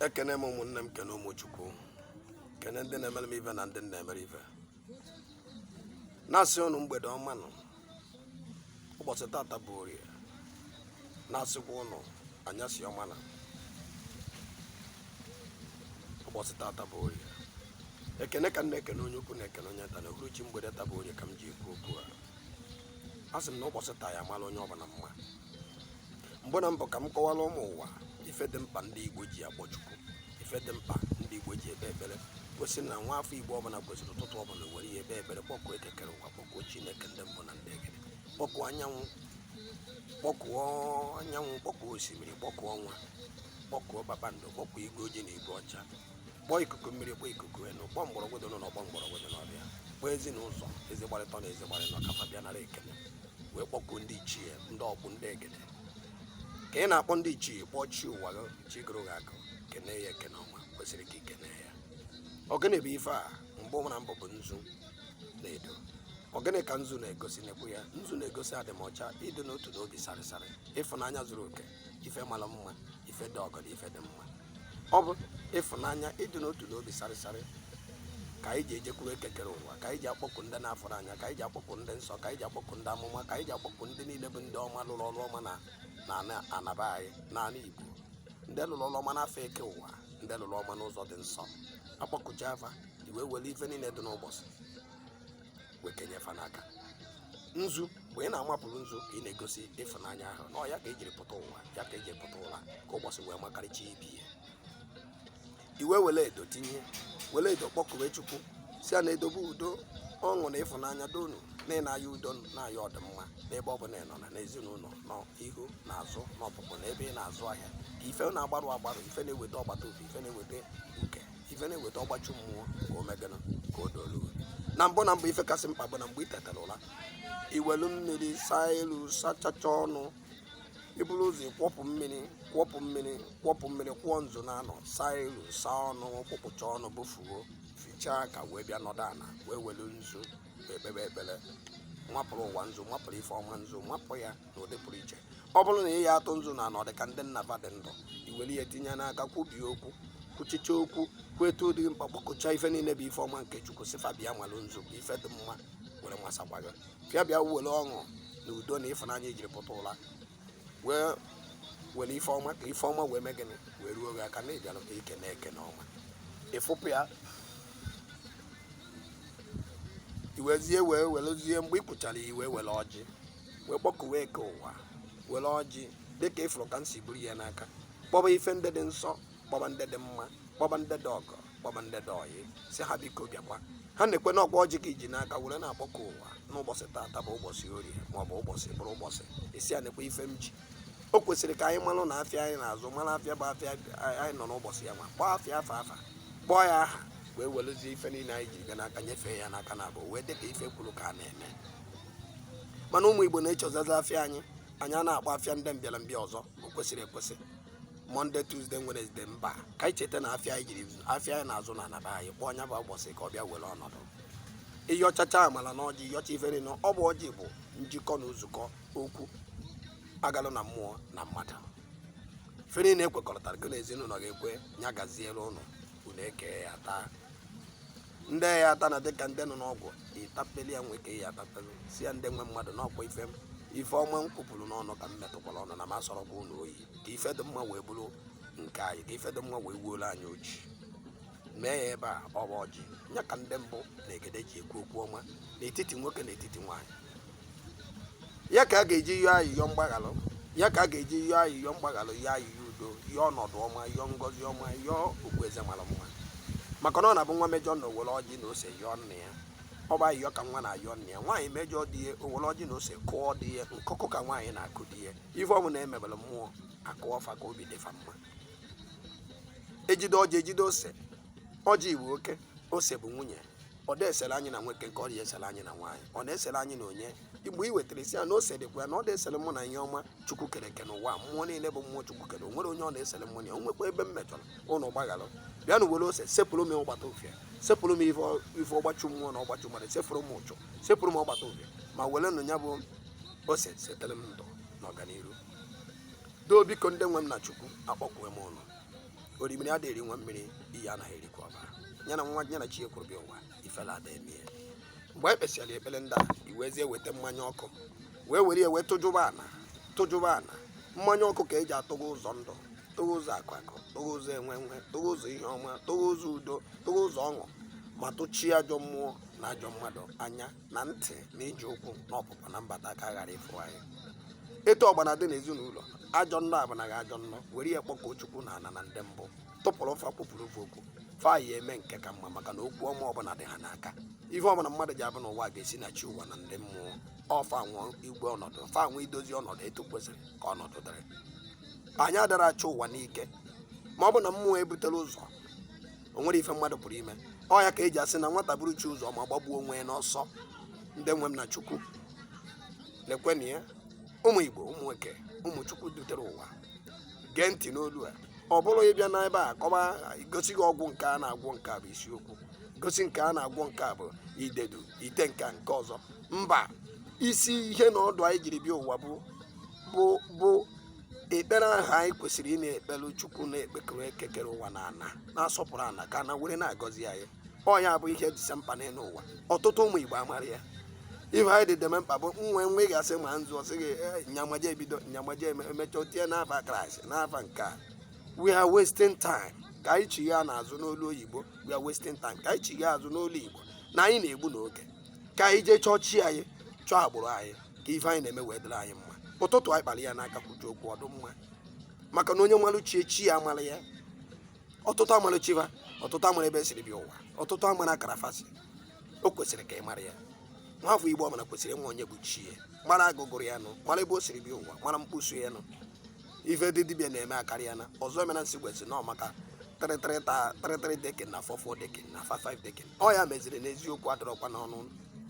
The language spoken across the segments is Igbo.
ekene m ụmụnne m kene ụmụ chukwu kene ndị na-emere m ife na ndị m na-emere ife na-asị ụnụ mgbede ọma na ụbọchị tata bụ orie na-asịkwa ụnụ anyasị ọma na ụbọchị tata bụ orie ekene ka m na-ekene onye ukwu na-ekene onye nta na uhuruchi mgbede taa bụ orie ka m ji ekwu okwu a a sị m na ụbọchị taa ya mara onye ọbụla mma mbụ na mbụ ka m kọwara ụmụ ụwa ife dị mkpa ndị igbo ji akpọ chukwu ife dị mkpa ndị igbo ji ekpe ekpere gosi na nwa afọ igbo ọbụla kwesịrị ụtụtụ ọbụla were ihe ekpe ekpere kpọkuo eke kere ụwa kpọkuo chineke ndị mbụ na ndị egede kpọkuo anyanwụ kpọkuo osimiri kpọkuo ọnwa kpọkuo kpakpando kpọkuo igwe ojii na igwe ọcha kpọọ ikuku mmiri kpọọ ikuku enu kpọọ mgbọrọgwụ dị n'ụlọ kpọọ mgbọrọgwụ dị n'ọfịa kpọọ ezi na ụzọ ezi gbara ịtọ na ezi gbara ịnọ ka fa bịa nara ekele wee kpọkuo ndị ichie ndị ọkpụ ndị egede ka ị na-akpọ ndị ichie kpọọ chi ụwa gị chi gụrụ gị akụ kene ya ekene ọma kwesịrị ka i kene ya ọ gịnị bụ ife a mgbe mbụ na mbụ bụ nzu na edo ọ gịnị ka nzu na-egosi nekwa ya nzu na-egosi adịmọcha ịdị n'otu na obi sarịsarị ịfụnanya zuru oke ife mara mma ife dị ọgọ na ife dị mma ọ bụ ịfụnanya ịdị n'otu na obi sarịsarị ka anyị ji ejekwuru eke kere ụwa ka anyị ji akpọku ndị na-afụrọ anya ka anyị ji akpọku ndị nsọ ka anyị ji akpọku ndị amụma ka anyị ji akpọku ndị niile bụ ndị ọma lụrụ ọrụ ọma na na ana- ana be anyị n'ala igbo ndị lụrụ ọrụ ọma n'afọ eke ụwa ndị lụrụ ọma n'ụzọ dị nsọ a kpọkuchaa fa i wee were ife niile dị n'ụbọchị wee kenye fa n'aka nzu mgbe ị na-amapụrụ nzu ka ị na-egosi ịfụnanya ahụ na ya ka e jiri pụta ụra ya ka e jiri pụta ụra ka ụbọchị wee makarịchaa ibe ya i wee were edo tinye were edo kpọkuwe chukwu sị ya na edo bụ udo ọṅụ na ịfụnanya donu na ị na-ayọ udo na-ayọ ọdịmma n'ebe ọ bụla ị nọ na n'ezinụlọ n'ihu na azụ na ọpụpụ na ebe ị na-azụ ahịa ka ife na-agbarụ agbarụ ife na-eweta ọgbata obi ife na-eweta ife na-eweta ọgbachu mmụọ ka o mee gịnị ka o dolu na mbụ na mbụ ife kasị mkpa bụ na mgbe ị tetara ụra i welu mmiri saa iru sachacha ọnụ i buru ụzọ kwọpụ mmiri kwọpụ mmiri kwọpụ mmiri kwụọ nzu na anọ saa iru saa ọnụ kwụpụcha ọnụ bụfuo fichaa ka wee bịa nọdụ ala wee welu nzu wee kpebe ekpere mapụrụ ụwa nzu mapụrụ ife ọma nzu mapụ ya na ụdị pụrụ iche ọ bụrụ na ị ya atụ nzu na anọ dị ka ndị nna va dị ndụ i were ya tinye n'aka kwubie okwu kwuchicha okwu kweta ụdị mkpa kpọkuchaa ife niile bụ ife ọma nke chukwu sị fa bịa malụ nzu bụ ife dị mma were masakwa gị fịa bịa were ọṅụ na udo na ịfụnanya i jiri pụta ụra wee were ife ọma ka ife ọma wee mee gịnị wee ruo gị aka na ị bịara ka ike na-eke na ọma ị fụpụ ya i wezie wee werezie mgbe ị kwuchara i wee were ọjị wee kpọkuwe eke ụwa were ọjị dịka ị fụrụ ka m si buru ya n'aka kpọba ife ndị dị nsọ kpọba ndị dị mma kpọba ndị dị ọgọ kpọba ndị dị oyi sị ha biko bịakwa ha na-ekwe na ọ kwa ọjị ka i ji n'aka were na-akpọku ụwa n'ụbọchị taata bụ ụbọchị orie ma ọ bụ ụbọchị bụrụ ụbọchị esi a na-ekwe ife m ji o kwesịrị ka anyị malụ na afịa anyị na-azụ mara afịa bụ afịa anyị nọ n'ụbọchị ya ma kpọọ afịa afa afa kpọọ ya aha wee werezie ife niile anyị ji bịa n'aka nyefee ya n'aka na abụọ wee dịka ife e kwuru ka a na-eme mana ụmụ igbo na-echezọzi afịa anyị anyị a na-akpọ afịa ndị mbịarambịa ọzọ o kwesịrị ekwesị monday tuesday wednesday mba ka anyị cheta na afịa anyị jiri afịa anyị na-azụ na anaba anyị kpọọ nya bụ ụbọchị ka ọ bịa were ọnọdụ ị yọchacha amala n'ọjị ị yọcha ife niile ọ bụ ọjị bụ njikọ na nzukọ okwu agalụ na mmụọ na mmadụ ife niile e kwekọrịtara gị na ezinụlọ gị ekwe ya gaziere ụnụ unu ekee ya taa ndị ya ata na dịka ndị nọ n'ọgwụ ị tapeli ya nwee nke ị ya-atapelu sị ya ndị nwe mmadụ na ọ kwa ife ife ọma m kwupụrụ n'ọnụ ka m metụkwara ọnụ na m asọrọkwa ụnụ oyi ka ife dị mma wee bụrụ nke anyị ka ife dị mma wee wuola anyị oji mee ya ebe a ọ bụ ọjị ya ka ndị mbụ na egede ji ekwu okwu ọma n'etiti nwoke na etiti nwaanyị ya ka a ga-eji yọọ ayịyọ mgbaghalụ ya ka a ga-eji yọọ ayịyọ mgbaghalụ yọọ ayịyọ udo yọọ ọnọdụ ọma yọọ ngọzi ọma yọọ okpueze mara mma maka na ọ na-abụ nwa mejọ na o were ọjị na ose yọọ nna ya ọ bụ ayịyọ ka nwa na-ayọ nna ya nwaanyị mejọ di ya o were ọjị na ose kụọ di ya nkụkụ ka nwaanyị na-akụ di ya ife ọbụla e mebere mmụọ a kụọ fa ka obi dị fa mma ejide ọjị ejide ose ọjị bụ oke ose bụ nwunye ọ da esere anyị na nwoke nke ọ dị esere anyị na nwaanyị ọ na-esere anyị na onye mgbe ị wetara isi ya na o sedekwa ya na ọ na-esere mụ na ihe ọma chukwu kere eke n'ụwa a, mmụọ niile bụ mmụọ chukwu kere o nwere onye ọ na-esere mụ na ya o nwekwa ebe m mejọrọ ụnụ gbaghara bịanụ were ose sepụrụ m ọgbata ufie sepụrụ m ife ọ- ife ọgbachu mmụọ na ọgbachu mmadụ sepụrụ m ụchụ sepụrụ m ọgbata ufie ma werenụ ya bụ ose setere m ndụ na ọganiru doo biko ndị nwe m na chukwu akpọkuwe m ụnụ orimiri adịghị eri nwa mmiri iyi anaghị erikwa ọbara ya na nwa ya na chi ya kwuru bịa ụwa ifele ada eme ya mgbe anyị kpesịara ekpere ndị a i wezie weta mmanya ọkụ wee were ya wee tụjụba ana tụjụba ana mmanya ọkụ ka e ji atụghe ụzọ ndụ tụghee ụzọ akụ akụ tụghee ụzọ enwe enwe tụghee ụzọ ihe ọma tụghee ụzọ udo tụghee ụzọ ọṅụ ma tụchie ajọ mmụọ na ajọ mmadụ anya na ntị na ije ụkwụ na ọpụpụ na mbata ka a ghara ịfụ anyị etu ọgbana dị n'ezinụlọ ajọ nnọ abụnaghị ajọ nnọ were ya kpọkuo chukwu na ana na ndị mbụ tụpụrụ fa kwupụrụ fa okwu fa ya eme nke ka mma maka na okwu ọma ọbụla dị ha n'aka ihe ọbụla mmadụ ji abụ n'ụwa ga-esi na chi ụwa na ndị mmụọ ọ fa nwe igwe ọnọdụ fa nwe idozi ọnọdụ etu kwesịrị ka ọnọdụ dịrị anyị adara achị ụwa n'ike ma ọ bụ na mmụọ butere ụzọ o nwere ife mmadụ pụrụ ime ọ ya ka eji asị na nwata buru chi ụzọ ma gbagbuo onwe ya n'ọsọ ndị nwe m na chukwu lekwenụ ya ụmụ igbo ụmụ nwoke ụmụ chukwu dutere ụwa gee ntị n'olu a ọ bụrọ ịbịa n'ebe a kọba gosi gị ọgwụ nke a na-agwọ nke a bụ isiokwu gosi nke a na-agwọ nke a bụ idedu ite nke a nke ọzọ mba isi ihe na ọdụ anyị jiri bịa ụwa bụ bụ bụ ekpere ahụ anyị kwesịrị ị na-ekpere chukwu na-ekpekere eke kere ụwa na ana na-asọpụrụ ana ka ana were na-agọzi anyị ọ ya bụ ihe dịsa mkpa n'elu ụwa ọtụtụ ụmụ igbo amara ya ife anyị dị deme mkpa bụ nwe nwe gasị ma nzu ọ sị gị "Eh, nyamaje ebido nyamaje eme- emecha o tie n'afa kraịst n'afa nke a we are wasting time ka anyị chigha n'azụ n'olu oyibo we are wasting time ka anyị chigha azụ n'olu igbo na anyị na-egbu n'oge ka anyị jee chọọ chi anyị chọọ agbụrụ anyị ka ife anyị na-eme wee dịrị anyị mma ụtụtụ anyị kpara ya n'aka kwuju okwu ọ dụ mma maka na onye malụ chi ya chi ya amara ya ọtụtụ amara chi va ọtụtụ amara ebe e siri bịa ụwa ọtụtụ amara akara fa si o kwesịrị ka ị mara ya nwafọ igbo ọbụla kwesịrị ịma onye bụ chi ya mara agụ gụrụ ya nụ mara ebe o siri bịa ụwa mara mkposu ya nụ ife ndị dibịa na-eme akarịa na ọzọ emena nsị gwesị nọ maka three three ta three three decking na four four decking na five five decking ọ ya meziri na eziokwu adịrọkwa n'ọnụ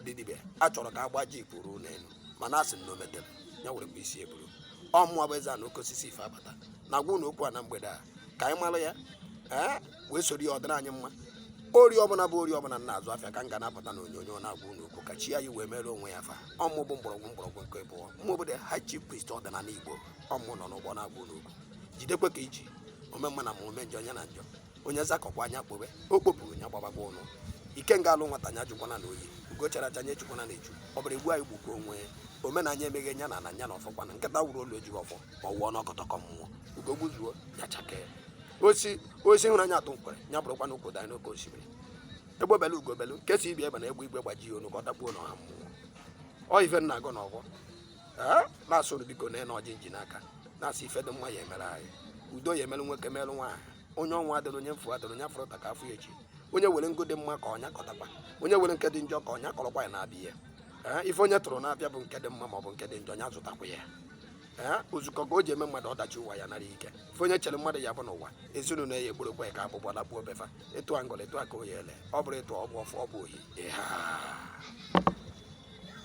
ndị dibịa a chọrọ ka agba ji pụrụ n'elu mana asị m na omete m ya were bụ isi eburu ọ mụwa bụ eze ana oke osisi ife abata na-agwa ụnụ okwu a na mgbede a ka anyị mara ya ee wee soro ya ọ dịrị anyị mma orie ọbụla bụ orie ọbụla m na-azụ afịa ka m ga na-abata na onyonyo na-agwa ụnụ okwu ka chi anyị wee mere onwe ya fa ọ mụ bụ mgbọrọgwụ mgbọrọgwụ nke abụọ mụ obodo high chief priest ọdịnala igbo ọ mụ nọ n'ọgbọ na-agwa ụnụ okwu jidekwa ka i ji ome mma na mma ome njọ nya na njọ onye zakọkwaa nya kpobe o kpopụrụ nya gbabagwa ụnụ ikenga alụ nwata nya jụkwana oyi ugo chara acha nya echukwana echu ọ bịara egbu anyị gbukwa onwe ya omenanya emeghe nya na na nya na ọfọkwa na nkịta wuru olu ejighị ọfọ ma ọ wụọ n'ọkọtọkọ mmụọ ugo gbuzuo ya chakee osisi hụrụ anya atụ nkwere nya bụrụkwa na ụkwụ danyị n'oke osimiri egbe belu ugo belu nke sị ibe ya ebena egbe igwe gbajie onu ka ọ dakpuo n'ọha mmụọ ọ ife m na-agọ n'ọgbọ ee na-asị unu biko na ọjị m ji n'aka na-asị ife dị mma ya emere anyị udo ya emere nwoke merụ nwaanyị onye ọnwụ adịna onye mfu adịna onye a fụrụ taa ka a fụ ya echi onye were ngo dị mma ka ọ nya kọtakwa onye were nke dị njọ ka ọ nya kọrọkwa ya na-abịa ya ee ife onye tụrụ n'afịa bụ nke dị mma ma ọ bụ nke dị njọ ya zụtakwa ya ee ozukọ ka o ji eme mmadụ ọdachi ụwa ya nara ike ife onye chere mmadụ ya bụ n'ụwa ezinụlọ ya ekporokwa ya ka abụbọ lakpuo be fa ịtụ angọla ịtụ aka oyi ele ọ bụrụ ịtụ ọgbụ ọfụ ọ bụ oyi ịha